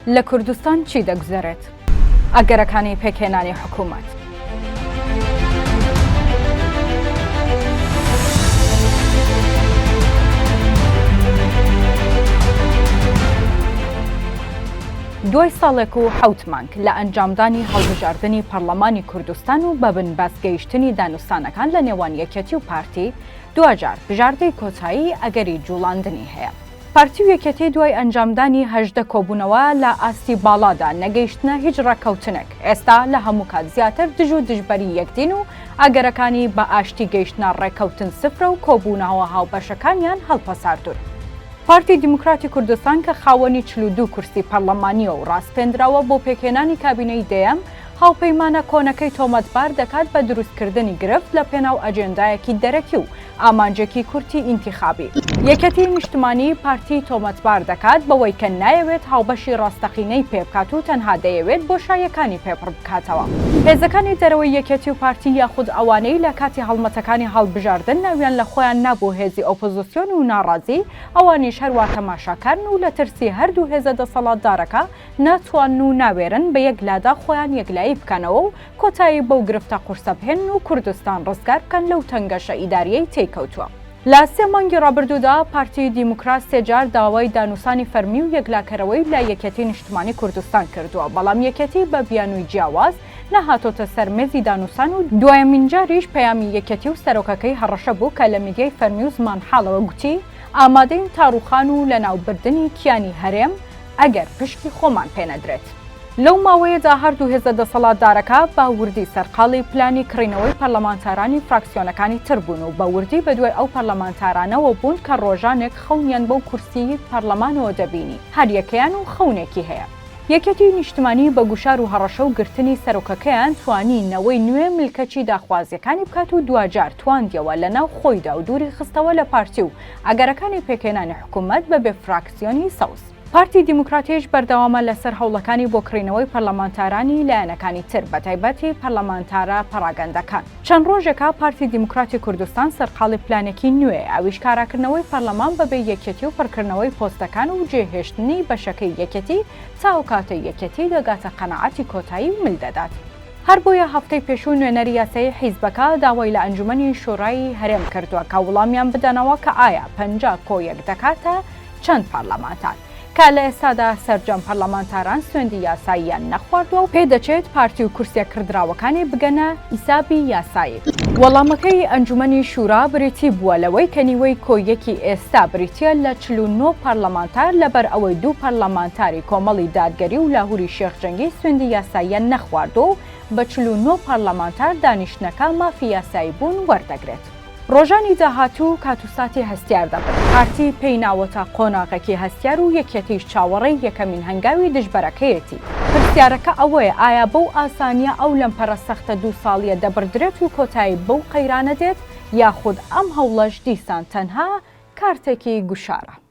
لە کوردستان چی دەگوزەرێت؟ ئەگەرەکانی پێکهێنانی حکوومەت. دوای ساڵێک و حەوت مانگ لە ئەنجامدانی هەڵبژاردنی پەرلەمانی کوردستان و بە بنبەست گەیشتنی دانوستانەکان لە نێوان یەکێتی و پارتی، دواجار بژاردەی کۆتایی ئەگەری جوڵاندنی هەیە. پارتی و یەکێتی دوای ئەنجامدانی هەژدە کۆبوونەوە لە ئاستی باڵادا، نەگەیشتنە هیچ ڕێککەوتنێک، ئێستا لە هەموو کات زیاتر دژ و دژبەری یەکدین و ئەگەرەکانی بە ئاشتی گەیشتنە ڕێککەوتن سفرە و کۆبوونهوه هاوبەشەکانیان هەڵپەساردوون. پارتی دیموکراتی کوردستان کە خاوەنی چل و دوو کورسی پەرلەمانییە و ڕاسپێندراوە بۆ پێکهێنانی کابینەی دەیەم، هاوپەیمانە کۆنەکەی تۆمەتبار دەکات بە دروستکردنی گرفت لە پێناو ئەجێندایەکی دەرەکی و ئامانجێکی کورتی ئینتیخابی. یەکێتیی نیشتمانیی پارتیی تۆمەتبار دەکات بەوەی کە نایەوێت هاوبەشی ڕاستەقینەی پێبکات و تەنها دەیەوێت بۆشاییەکانی پێ پڕ بکاتەوە. هێزەکانی دەرەوەی یەکێتی و پارتی یاخود ئەوانەی لە کاتی هەڵمەتەکانی هەڵبژاردن ناویان لە خۆیان نابوو هێزی ئۆپۆزسیۆن و ناڕازی، ئەوانیش هەروا تەماشاکارن و لە ترسی هەردوو هێزە دەسەڵاتدارەکە ناتوانن و ناوێرن بە یەک لادا خۆیان یەکلایی بکەنەوە و کۆتایی بەو گرفتە قورسە بهێنن و کوردستان ڕزگار بکەن لەو تەنگەشە ئیداریەی تێی کەوتوە. لە سێ مانگی ڕابردودا پارتی دیموکرات سێ جار داوای دانوسانی فەرمی و یەکلاکەرەوەی لە یەکێتی نیشتمانی کوردستان کردوە بەڵام یەکێتی بە بیانوی جیاواز نەهاتۆتە سەر مێزی دانوسان و دوایەمین جاریش پەیامی یەکێتی و سەرۆکەکەی هەڕەشە بو کە لە میدیای فەرمی و زمانحاڵەوە گوتی ئامادەین تا ڕوخان و لەناوبردنی کیانی هەرێم ئەگەر پشکی خۆمان پێ نەدرێت. لەو ماوەیەدا هەردوو هێزە دەسەڵاتدارەکە بە وردی سەرقاڵی پلانی کڕینەوەی پەرلەمانتارانی فراکسیۆنەکانی تر بوون و بە وردی بەدوای ئەو پەرلەمانتارانەوە بوون کە ڕۆژانێک خەونیان بەو کورسیی پەرلەمانەوە دەبینی، هەر یەکەیان و خەونێکی هەیە. یەکێتیی نیشتمانیی بە گوشار و هەڕەشە و گرتنی سەرۆکەکەیان توانی نەوەی نوێ ملکەچی داخوازییەکانی بکات و دواجار تواندییەوە لەناو خۆیدا و دووری خستەوە لە پارتی و ئەگەرەکانی پێکهێنانی حکوومەت بە بێ سیۆنی سەوز. پارتی دیموکراتیش بەردەوامە لەسەر هەوڵەکانی بۆ کڕینەوەی پەرلەمانتارانی لایەنەکانی تر، بەتایبەتی پەرلەمانتارە پەڕاگەندەکان. چەند ڕۆژێکە پارتی دیموکراتی کوردستان سەرقاڵی پلانێکی نوێیە، ئەویش کاراکردنەوەی پەرلەمان بەبێ یەکێتی و پڕکردنەوەی پۆستەکان و جێهێشتنی بەشەکەی یەکێتی تا ئەوکاتەی یەکێتی دەگاتە قەناعەتی کۆتایی و مل دەدات. هەر بۆیە هەفتەی پێشوو نوێنەری یاسایی حیزبەکە داوای لە ئەنجومەنی شورای هەرێم کردووە کە وڵامیان بدەنەوە کە ئایا پەنجا کۆ یەک دەکاتە چەند پەرلەمانتار کە لە ئێستادا سەرجەم پەرلەمانتاران سوێندی یاساییان نەخواردوە و پێ دەچێت پارتی و کورسیە کڕدراوەکانی بگەنە حیسابی یاسایی. وەڵامەکەی ئەنجومەنی شورا بریتی بووە لەوەی کە نیوەی کۆ یەکی ئێستا بریتیە لە چل و نۆ پەرلەمانتار لەبەر ئەوەی دوو پەرلەمانتاری کۆمەڵی دادگەری و لاهوری شێخ جەنگی سوێندی یاساییان نەخواردووە و بە چل و نۆ پارلەمانتار دانیشتنەکە مافی یاسایی بوون وەردەگرێت. ڕۆژانی داهاتوو کات و ساتی هەستیار دەبن، پارتی پێی ناوەتە قۆناغەکی هەستیار و یەکێتیش چاوەڕێی یەکەمین هەنگاوی دژبەرەکەیەتی. پرسیارەکە ئەوەیە ئایا بەو ئاسانییە ئەو لەمپەرە سەختە دوو ساڵییە دەبڕدرێت و کۆتایی بەو قەیرانە دێت یاخود ئەم هەوڵەش دیسان تەنها کارتێکی گوشارە؟